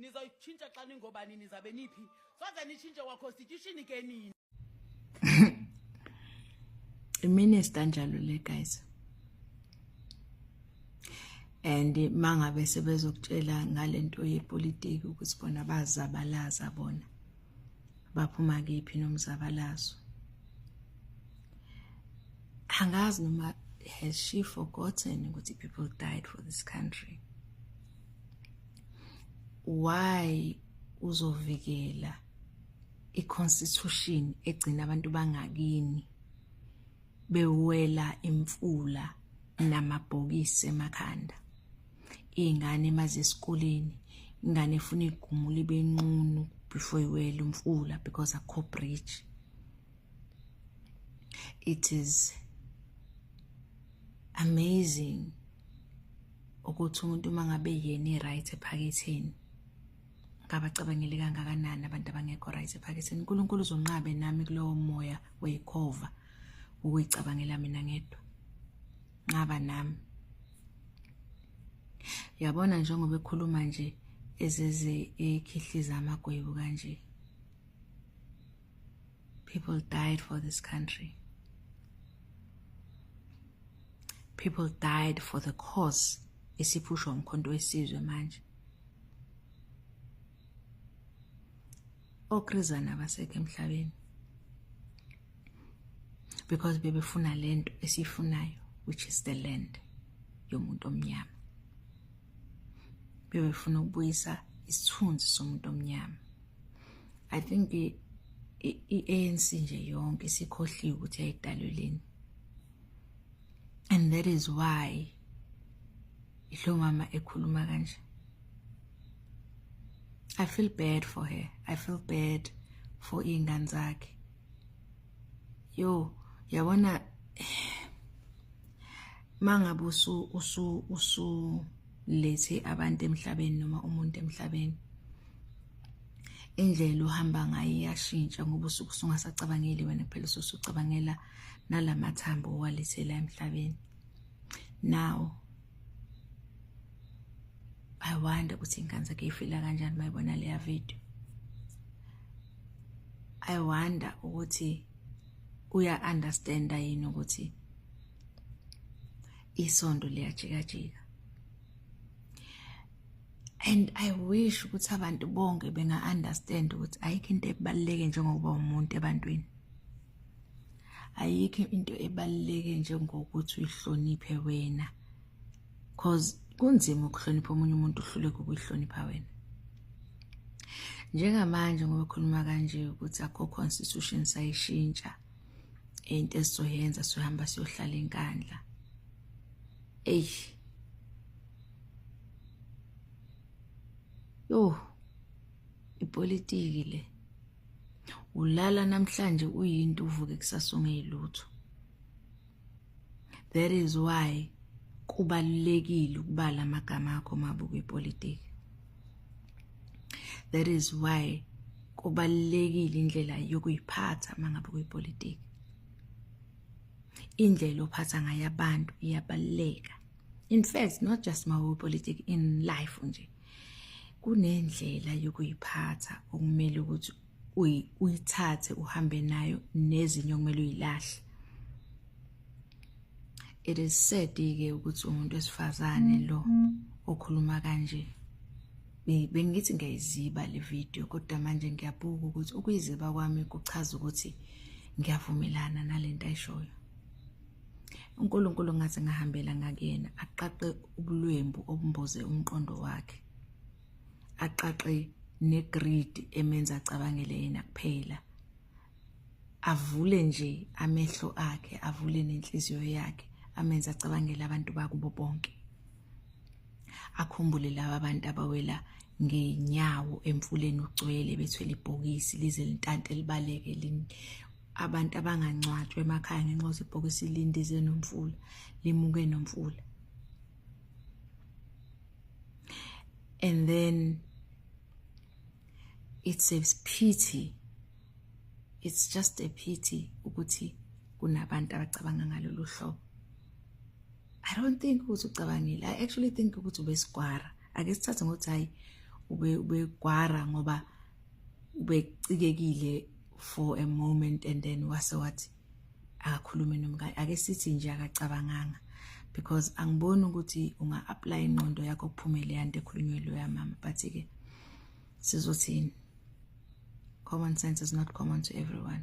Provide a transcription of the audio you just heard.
nizoyitshintsha xa ningobani nizabe niphi soze nitshintshe kwa-constitution ke nini iminister njalo le guys and mangabe sebezokutshela ngalento yepolitiki ukuthi bona bazabalaza bona baphuma kephi nomzabalazo angazi noma has she forgotten ukuthi people died for this country why uzovikela iconstitution egcina abantu bangakini bewela imfula namabhokisi emakhanda iy'ngane maze esikoleni ingane efuna igumula ibe nqunu before iwele umfula because akho bridge it is amazing ukuthi umuntu uma ngabe yena i-right ephaketheni ngabacabangele kangakanani abantu abangekho right ephaketheni unkulunkulu uzonqabe nami kulowo moya weyikhova ukuyicabangela mina ngedwa nqaba nami yabona njengoba ekhuluma nje ezeze ekhihliza amagwebu kanje people died for this country people died for the cause esiphusha umkhonto wesizwe manje okrezana abasekho emhlabeni because bebefuna lento esiyifunayo which is the land yomuntu omnyama bebefuna ukubuyisa isithunzi somuntu omnyama i think i-ANC nje yonke isikhohliwe ukuthi yayidaleleni and that is why Yilo mama ekhuluma kanje. I feel bad for her. I feel bad for ingane zakhe. Yo, yabona mangabe usu usu usu lethe abantu emhlabeni noma umuntu emhlabeni indlela uhamba ngayo iyashintsha ngoba usuke usungasacabangeli wena kuphela ususucabangela nalamathambo owalethela emhlabeni now i wonder ukuthi ingane zakhe ifila kanjani mayibona leya video i wonder ukuthi uya understand yini ukuthi isondo liyajikajika and i wish ukuthi abantu bonke benga understand ukuthi ayikho into ebaluleke njengokuba umuntu ebantwini ayikho into ebaluleke njengokuthi uyihloniphe wena cause kunzima ukuhlonipha omunye umuntu uhluleke ukuyihlonipha wena njengamanje ngoba khuluma kanje ukuthi akho constitution sayishintsha into esizoyenza sizohamba siyohlala enkandla eyi yho ipolitiki le ulala namhlanje uyinto uvuke kusasa ungeyilutho that is why kubalulekile ukubala amagama akho mabuka ipolitiki that is why kubalulekile indlela yokuyiphatha mangabe kuyipolitiki indlela ophatha ngayo abantu iyabaluleka in fact not just mawe politics in life nje kunendlela yokuyiphatha okumele ukuthi uyithathe uhambe nayo nezinye okumele uyilahle it is sad ke ukuthi umuntu wesifazane lo okhuluma kanje bengithi ngiyayiziba le video kodwa manje ngiyabuka ukuthi ukuyiziba kwami kuchaza ukuthi ngiyavumelana nalento ayishoyo uNkulunkulu ngaze ngahambela ngakuyena aqaqe ubulwembu obumboze umqondo wakhe aqaqe negreed emenza acabangele yena kuphela avule nje amehlo akhe avule nenhliziyo yakhe amenza acabangele abantu bakubo bonke akhumbule laba abantu abawela ngenyawo emfuleni ugcwele bethwele ibhokisi lize lintante libaleke abantu abangangcwatshwa emakhaya ngenxa yokuthi ibhokisi lindize nomfula limuke nomfula and then it's a pity it's just a pity ukuthi kunabantu abacabanga ngalolu hlobo i don't think ukuthi ucabangile i actually think ukuthi ubesigwara ake sithathe ngokuthi hayi ubegwara ngoba ubecikekile for a moment and then wase wathi akakhulume nomkakhe ake sithi nje akacabanganga because angiboni ukuthi unga apply inqondo yakho kuphumele yanto ekhulunywe lo yamama but ke sizothini common sense is not common to everyone